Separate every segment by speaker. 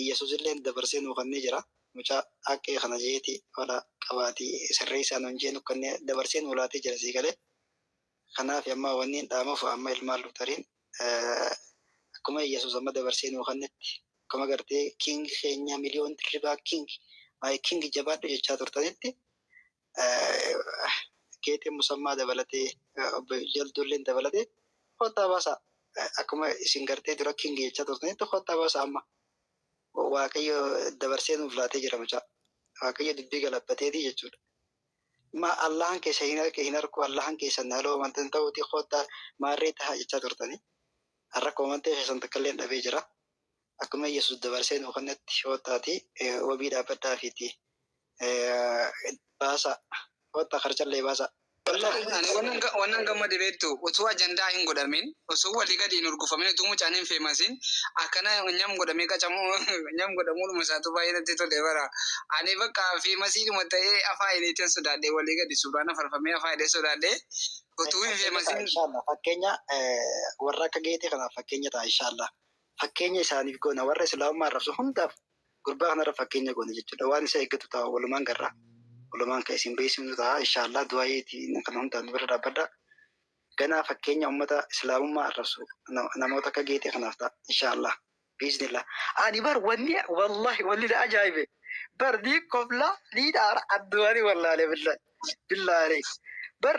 Speaker 1: Iyyasusilleen dabarsee nuu kannee jira mucaa Aqee kana jeeti fala qabaati sirreessaa nuun jee nu kannee dabarsee nuu laatee jira sii galee kanaafi amma wanniin dhaamuuf amma ilmaan Luutariin akkuma Iyyasuus amma dabarsee nuu kannetti akkuma gartee king keenyaa million dirribaa king my king jabaadhu jechaa turtanitti Geexee Musammaa dabalatee Obbo Jalduulleen dabalatee kottaa baasaa akkuma isin gartee dura king jechaa turtanitti kottaa baasaa amma waaqayyo dabarsee nuuf laatee jira mucaa waaqayyo dubbii galabbateetii jechuudha. Ma Allahan keessa hin arke hin arku Allahan keessan haloo amantan ta'uutii kottaa maarree tahaa jechaa turtanii har'a koomantee keessan takkalleen dhabee jira Akkuma Yesuus dabarsee nuu kennetti koottaatii wabii dhaabbadhaafiitii baasaa. Koottaa karchallee baasaa. Ani
Speaker 2: wannan gammade beektu utuu ajandaa hin godhamin utuu walii gadi hin hurgufamin utuu mucaan hin feemasin akkana nyam godhamee qacamuu nyam godhamuudhuma isaatu baay'ee natti tole bara ani bakka feemasiidhuma ta'ee afaa hidheetan sodaadhe walii gadi suuraan afarfamee afaa hidhee sodaadhe utuu hin feemasin. Inshallah fakkeenya
Speaker 1: warra akka geetii kanaaf fakkeenya ta'a inshallah. fakkeenya isaaniif goona warra islaamummaa arrabsu hundaaf gurbaa kanarra fakkeenya goona jechuudha waan isa eeggatu ta'a walumaan garraa walumaan kan isin beeksifnu ta'a inshaallah du'aayeetiin kan hundaan bira dhaabbadha ganaa fakkeenya ummata islaamummaa arrabsu na- namoota akka geexee kanaaf ta'a inshaallah biiznillah ani bar wanni wallahi wanni na ajaa'ibe bar ni kofla ni dhaara adduwaani wallaale billahi billahi bar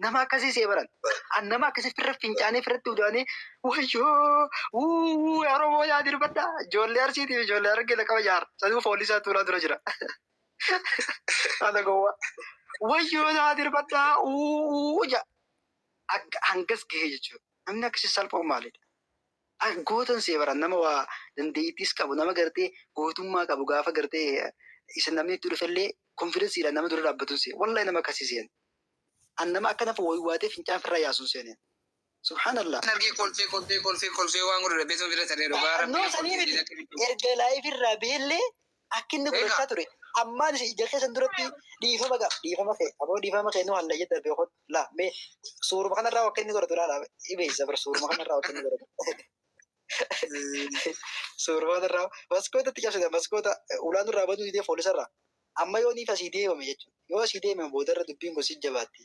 Speaker 1: Nama akkasii see baran. An nama akkasii firra fincaanii firratti udaanii wayyoo uuu yaa Oromoo yaa dirbadha. Ijoollee Arsiitiif ijoollee Harargee laqaba jaarra. Sanuu foolisaa tuulaa dura jira. Ana gowwaa. Wayyoo yaa dirbadha uuu ja. Akka hangas gahee jechuudha. Namni akkasii salphoon maalidha? An gootan see baran nama waa dandeettiis qabu nama gartee gootummaa qabu gaafa gartee isa namni itti dhufellee konfidensiidhaan nama dura dhaabbatun see. Wallahi nama akkasii seen. An nama akka nafa waywaatee fincaan firraa yaasu hin seene. Subhaanallah. Nan argee kolfee kolfee
Speaker 2: kolfee kolfee waan godhu dhabbeetuma bira taree dhugaa Annoo rabbii sanii kolfee miti. diina akka
Speaker 1: bidduu. Erga live irraa beellee akka inni Egaa. gurachaa ture. Ammaan isin ija keessan duratti dhiifama gaaf dhiifama kee aboo dhiifama kee nu halla jedha beekot laa mee suuruma kanarraa akka inni godhatu laala ibeessa bara suuruma kanarraa akka inni godhatu. Suuraa irraa maskoota itti cabsita maskoota ulaan irraa banuu didee foolisa irraa amma yoo niif asii deemame jechuudha. Yoo asii deemame booda irra dubbiin kun si jabaatti.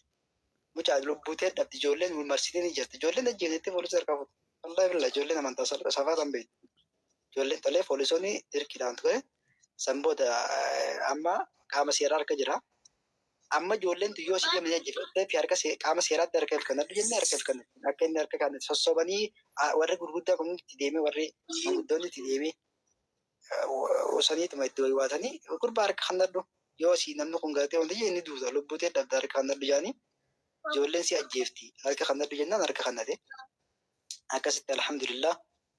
Speaker 1: Mucaa lubbuu ta'e dhabdi ijoolleen marsitee ni jirti. Ijoolleen ajjeeftetti foolisa harkaa fuutu. Wallahi billahi ijoolleen amantaa safaa tan beektu. Ijoolleen tolee foolisoonni dirqiidhaan ture. San booda amma qaama seeraa harka jira. Amma ijoolleen tun yoo si deemte jajjabeessee fi harka see- qaama seeraatti harka hirkannadhu jennee harka hirkannadhu. Akka inni harka kana sossobanii ah, warri gurguddaa kun itti deemee warri gurguddoonni itti deemee usaniituma itti waywaatanii gurbaa harka kannadhu yoo si namni kun galatee wanti jedhe inni duuta lubbuu ta'e dhabda harka kannadhu jedhanii ijoolleen si ajjeefti harka kannadhu jennaan harka kannate akkasitti alhamdulillah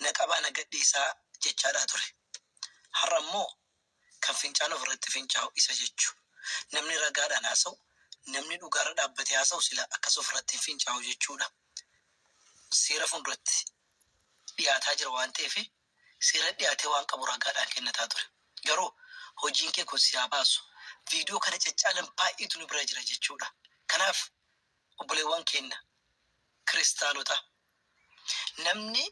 Speaker 1: na qabaa na gadhiisaa jechaadhaa ture. Har'a immoo kan fincaan ofirratti fincaa'u isa jechu. Namni ragaadhaan haasa'u, namni dhugaarra dhaabbatee haasa'u silaa akkas ofirratti hin fincaa'u jechuudha. Seera fuulduratti dhiyaataa jira waan ta'eef seera dhiyaatee waan qabu ragaadhaan kennataa ture. Garuu hojiin kee kun si haa baasu. Viidiyoo kana caccaalan baay'eetu nu bira jira jechuudha. Kanaaf obboleewwan keenna kiristaanota Namni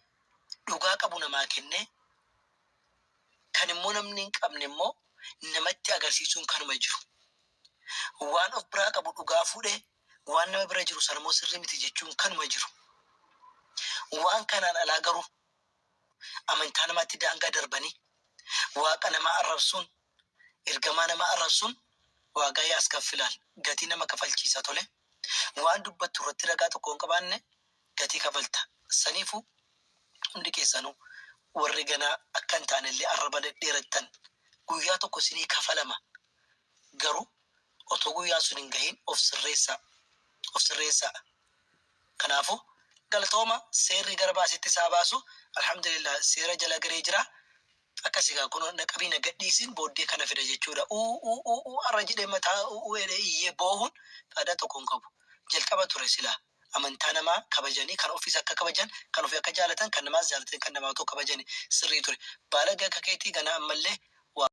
Speaker 1: dhugaa qabu namaa kennee, kan immoo namni hin qabne immoo namatti agarsiisuun kanuma jiru. Waan of biraa qabu dhugaa fuudhee waan nama bira jiru sana immoo sirrii miti jechuun kanuma jiru. Waan kanaan alaa garuu amantaa namaatti daangaa darbanii, Waaqa namaa arrabsuun, Ergamaa nama arrabsuun waagaa yaaskaffilaal, gatii nama kafalchiisa, tole, waan dubbattu irratti ragaa tokko yoo hin qabaanne gatii kafalta, saniifuu hundi keessanuu warri ganaa akka hin taane illee arraba dhedheerattan guyyaa tokko isinii kafalama, garuu otoo guyyaan sun hin gahiin of sirreessaa, of sirreessaa, kanaafuu galatooma seerri gara baasetti isaa baasu, alhamdulillah seera jala galee jira. Akkasi kaa kunoo naqabii na gadhiisiin booddee kana fida jechuudha uuuuuuu arra jedhee mataa uuuu jedhee iyyee boohuun faadaa tokko hin qabu jalqaba ture silaa amantaa namaa kabajanii kan ofiis akka kabajan kan ofii akka jaalatan kan namaas jaalatanii kan namaa otoo kabajani sirrii ture baalagee akka keetii ganaa ammallee waa